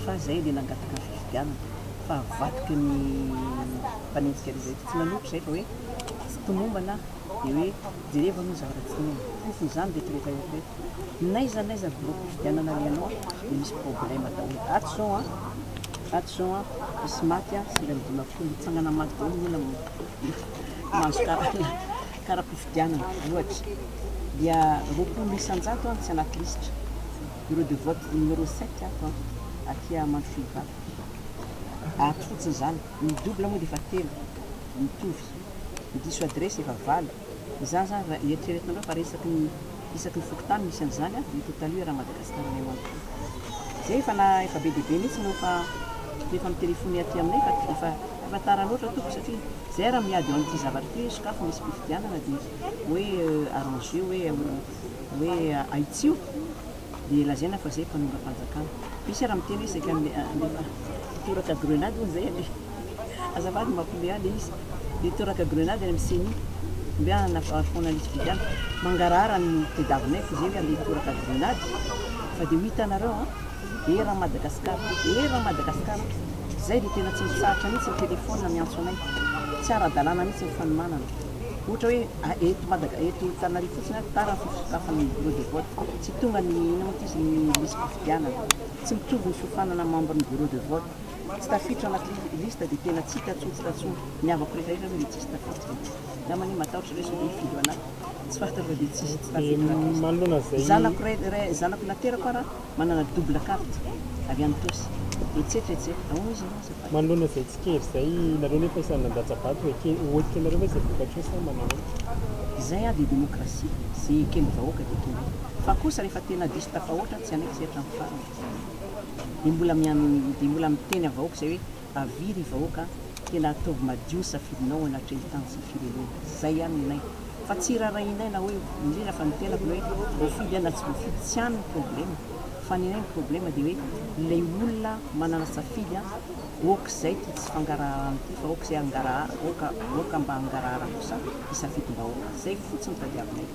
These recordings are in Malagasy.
fa zay le nangataka ny fifidianana fa avadika ny mpanenjika rehetra tsy nanompo zay fa hoe tsy tomombana aho de hoe jereo aloha ny zavatra tsy tomombana fofony zany reto rehetra reto reto naiza naiza bureau fifidianana alehanao de misy problème daholo ato zao an ato zao an misy maty an sivy amby dimampolo mitsangana maty daholo ny olona mahazo karana karam-pifidianana ohatra dia roapolo isan-jato an tsy anaty lisitra Bureau de vote numéro sept ato an, aty Amandrofihivato. Ato fotsiny izany. Ny double moa dia efa telo, mitovy. Ny diso adresse efa valo. Izany izany raha eritreretina indray fa raha isaky ny isaky ny fokontany misy an'izany an, dia total io raha Madagascar iray manontolo. Izay efa na efa be dia be mihitsy no efa no efa mi-telephone aty aminay fa efa efa tara loatra tompoko satria izay ary miady eo amin'ity zavatra ity hoe sokafy misy mpifidianana dia hoe arranger hoe hoe ahitsio dia lazaina fa zay mpanongam-panjakana. Misy ara miteny hoe saika handefa toraka grenade hono zay anie. Azafady mampme ahy le izy le toraka grenade any am ceni omby ahy hanafaharo foana lisy vidiana mangarahara ny tedavonay f'izay hoe handeha toraka grenade fa de ho hitanareo an ery an Madagascar ery an Madagascar zay de tena tsy mitsahatra mitsy ny telephone miantso anay tsy ara dalàna mitsy ny fanomanana Ohatra hoe eto Madaga eto Antananarivo fotsiny ary tara ny fisokafan'ny bureau de vote. Tsy tonga ny inona moa ty izy ny lisi-pifidianana. Tsy mitovy ny fiofanana membre ny bureau de vote. Tsy tafiditra anaty liste dia tena tsy hita tsony tsy tatsony. Ny havako rehetra rehetra ve dia tsisy tafiditra e. Izaho manio matahotra reso dia hifidy ho anah. Tsy fahatsiarovako dia tsisy tsy tafiditra anaty liste. Zanako zanako naterako ara. Manana double carte avy any Tosy. Etsetra etsetra. Ahoana izy aloha azafady? Manoloana izay tsikera izay, nareo nefa isan'ny nandatsa bato ho eke, ho ekenareo ve izay vokatra eo sa manao ahoana? Izay avy dia demokrasia, ze eken'ny vahoaka dia ekeny. Fa kosa rehefa tena diso tafahoatra tsy hanaiky izay hatramin'ny farany. Dia mbola mian, dia mbola miteny avahoaka izay hoe Avia ry vahoaka a, tena ataovy madio ny safidinao anatrehan'ny tany sy ny firenena. Izay ihany ny anay. Fa tsy irarahinay na hoe, indrindra fa ny tenako, ny hoe voafidy na tsy voafidy, tsy any ny problema. Fa ny anay ny problema dia hoe ilay olona manana safidy a, ok izay ity tsy fangaraharana ity fa ok izay hangarahara, ok, ok mba hangarahara kosa ny safidim-bahoaka. Izay fotsiny tadiavinay.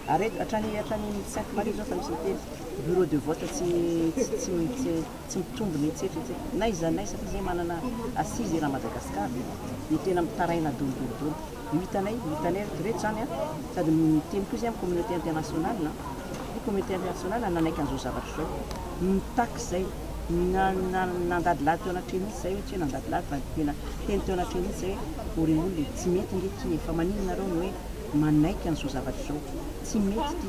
Ary eto, hatrany, hatrany Sainte Marie izao efa misy miteny, bureau de vote tsy, tsy, tsy, tsy. Tsy mitombo ny hetsihetsy n'aiza n'aiza fa izay manana assise eran'i Madagasikara no tena mitaraina dolo dolo dolo. Io hitanay, io hitanay reto reto izany an! Sady miteny koa izay amin'ny communauté internationale an! Ny communauté internationale nanaiky an'izao zavatra izao, nitaky izay, nandadilady teo anatreha mihitsy izay hoe tsy hoe nandadilady fa tena niteny teo anatreha mihitsy izay hoe ry olona e! Tsy mety ange ity e! Fa maninona nareo no hoe manaiky an'izao zavatra izao? Tsy mety ity!